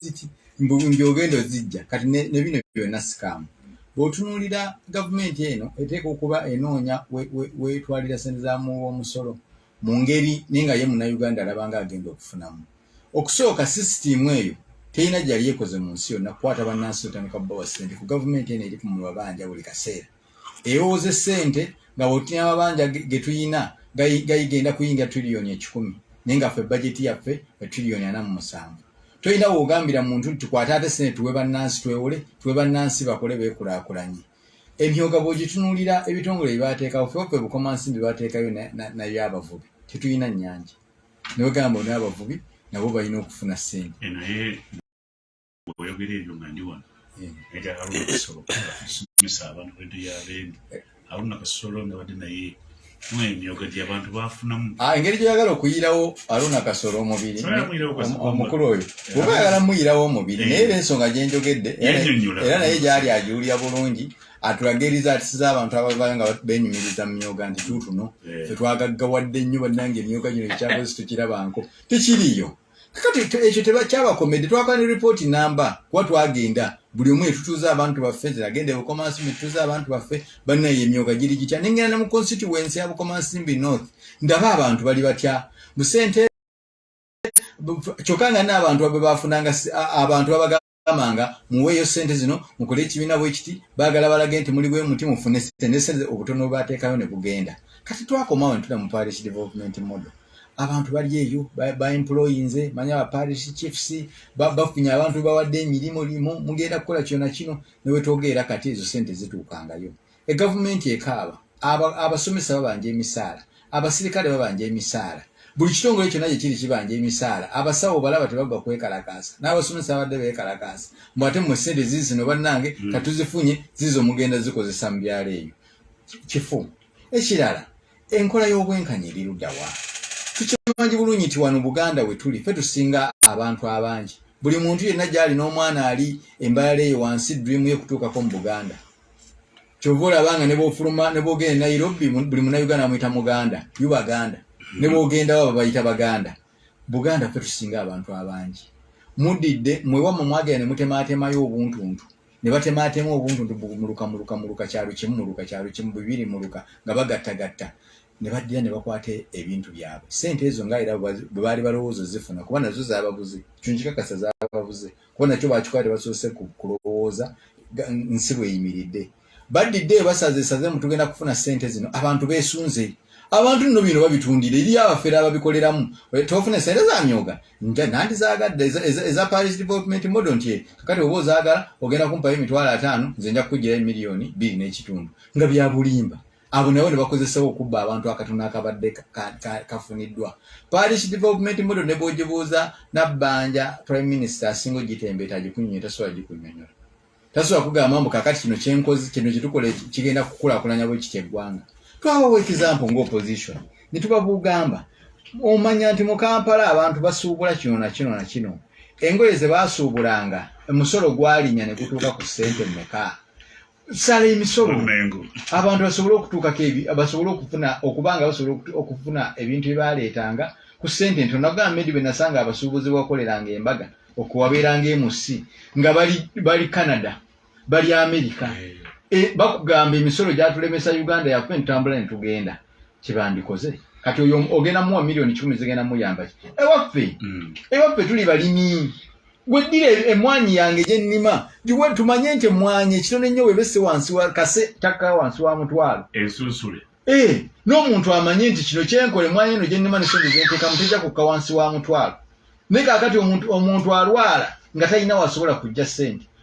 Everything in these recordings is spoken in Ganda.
ziki mbu mbu ogenda ozijja kati ne ne bino byonna sikaamu bw'otunuulira gavumenti eno eteeka okuba enoonya we- we- weetwalira ssente za muwi w'omusolo mu ngeri naye nga ye munnayuganda alaba nga agenda okufunamu okusooka sisitiimu eyo terina gyeyali ekoze mu nsi yonna kukwata bannansi otandika kubawa ssente ku gavumenti eno eri ku mabanja buli kaseera ewooze sente nga bwotunya amabanja getuyina gayigenda kuyingira trillion ekikumi naye nga ffe bajeti yaffe e trillion ana mu musanvu toyina wogambira muntu nti tukwate ate sente tuwe bannansi twewole tuwe bannansi bakole bekulakulanye emyoga bwogitunulira ebitongole byebateekawo feffe bukomansimbi bateekayo nayo abavubi tetuyina nyanja newegamba onabavubi nabo balina okufuna sente oyogera ebyo nga ndi wano eh. nti haruna kasolo kasomesa abantu bedu yabendi haruna kasolo nabadde naye mwemyoga gye abantu bafunamu ah, engeri gyoyagala okuyirawo haruna kasolo omubiri omukulu oyo oba yagala muyirawo omubiri eh. naye era ensonga gyenjogedde era naye gyali agiwulira bulungi atulagiriza ati siza abantu ababala nga benyumiriza mu myoga nti tuutuno eh. fetwagaggawadde nnyo bannange emyoga gino ekyakozi tukirabanko tekiriyo kakati ekyo tebakyabakomedde twakala ne report namba kuba twagenda buli omu etutuuza abantu baffe ziragenda ebukomansimbi tutuuza abantu baffe banaye emyoga giri gitya nengenda ne mu constituency ya bukomansimbi north ndaba abantu bali batya busente kyokka nga n'abantu abe bafunanga abantu babaga bamanga muweeyo ssente zino mukole ekibiina bwekiti baagala balage nti muli bwemuti mufune sente ne sente obutono bwebateekayo ne bugenda kati twakomawo ne tuda mu parish development model abantu bali eyo baemployinze manya ba parish chiefs bafunye abantu bawadde emirimu limu mugenda kukola kyona kino newetwogeera kati ezo sente zituukangayo egavumenti ekaaba abasomesa babanja emisaala abasirikale babanja emisaala buli kitongole kyonna gyekiri kibanja emisaala abasawo balaba tebagwa kwekalakaasa n'abasomesa abadde bekalakaasa mbu ate mwe sente zizi zino bannange mm. katuzifunye zizo mugenda zikozesa mu byalo ebyo kifu ekirala enkola y'obwenkanya eriruddawa tukimanji bulungi nti wano buganda we tuli fe tusinga abantu abangi buli muntu yenna gyali n'omwana ali embalala eyo wansi dream ye kutuukako mu buganda kyova olaba nga nebwofuluma nebwogenda e nairobi buli munauganda amuyita muganda yu baganda mm-hmm. nebwogenda waba bayita baganda buganda fe tusinga abantu abangi mudidde mwewamwe mwagenda nemutematemayo obuntuntu nebatematema obuntuntu muluka muluka muluka kyalo kimu muluka kyalo kimu bibiri muluka nga bagattagatta nebaddira nebakwata ebintu byabwe sente ezo nga era bwebaali balowooza zifuna kuba nazo zababuze kyonkikakasa zababuze kuba nakyo bakikola tebasoose kulowooza nsi bweyimiridde baddidde ebasaze esaze mu tugenda kufuna sente zino abantu besunze abantu nno bino babitundira eri abafere ababikoleramu tofuna esente zamyoga nandizagadde eza paris development model nti kakati oba ozagala ogenda kumpayo emitwalo ataano nze nja kukugirayo miliyoni bbiri n'ekitundu nga byabulimba abo nabo ne bakozesawo okubba abantu akatono akabadde kafuniddwa parish development model ne bwogibuuza nabbanja prime minister asinga ogitembeeta agikunyonyo tasobola gikunyonyola tasobola kugamba mbu kakati kino kyenkozi kino kyetukola kigenda kukulakulanya bwe kitya eggwanga twabawo ekizampo nga opposition ne tubabuugamba omanya nti mu kampala abantu basuubula kino na kino na kino engoye ze baasuubulanga omusolo gwalinya ne gutuuka ku ssente mmeka sala emisolo abantu basobole okutuukako basobole okufuna okuba nga basobole okufuna ebintu byebaleetanga ku sente ntono nagamba medi bwe nasanga abasuubuzi bakoleranga embaga okuwabeeranga emusi nga bali bali canada bali amerika e, bakugamba emisolo gyatulemesa uganda yafe ntambula netugenda kyebandikoze kati oyo ogenda muwa miliyoni kikumi zigenda muyambaki ewaffe mm. ewaffe tuli balimi weddira emwanyi yange gyennima giwe tumanye nti emwanyi ekitone nnyo webese wansi wa kase takka wansi wa mutwalo ensunsule ee eh, n'omuntu amanye nti kino kyenkola emwanyi eno gyennima nesente zenteka mutejja kukka wansi wa mutwalo naye kakati omuntu alwala nga talina wasobola kujja sente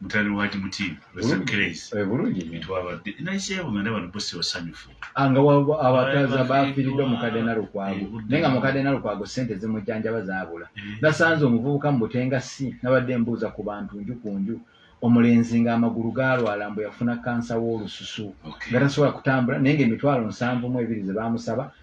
mutale wa jibuti wesamukereisi eh, bulungi twabadde naisebo nga ndaba nabo si basanyufu ah, nga abataza bafiiridde omukadde nalukwago eh, naye nga mukadde nalukwago sente zimujjanjaba zaabula eh. nasanze omuvubuka mu butenga si nabadde mbuuza ku bantu nju ku nju omulenzi nga amagulu galwala mbu yafuna kansa w'olususu nga tasobola kutambula naye nga emitwalo nsanvu mu ebiri ze bamusaba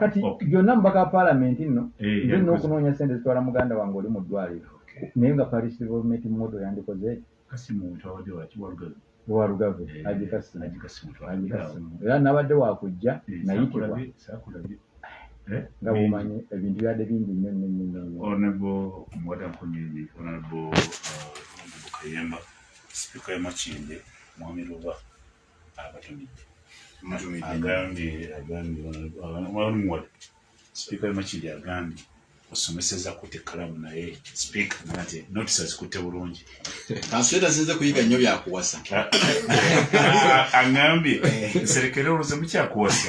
kati byonna mubaka wa paalamenti nno eh, nze n'okunoonya sente zitwala muganda wange oli mu ddwaliro naye nga parisivolmenti modo yandikoze walugave agikasimu era nabadde wakujja eh, nayitibwa eh, nga bumanyi ebintu byadde bingi nnyo nnyo nnyo agambye agambye walimuwa sipiika wemakiri agambye osomeseza kute kalamu naye sipiika nate notisi azikutte bulungi kanseta sinze kuyiga nnyo byakuwasa aŋambye nserekere oloze mukyakuwasa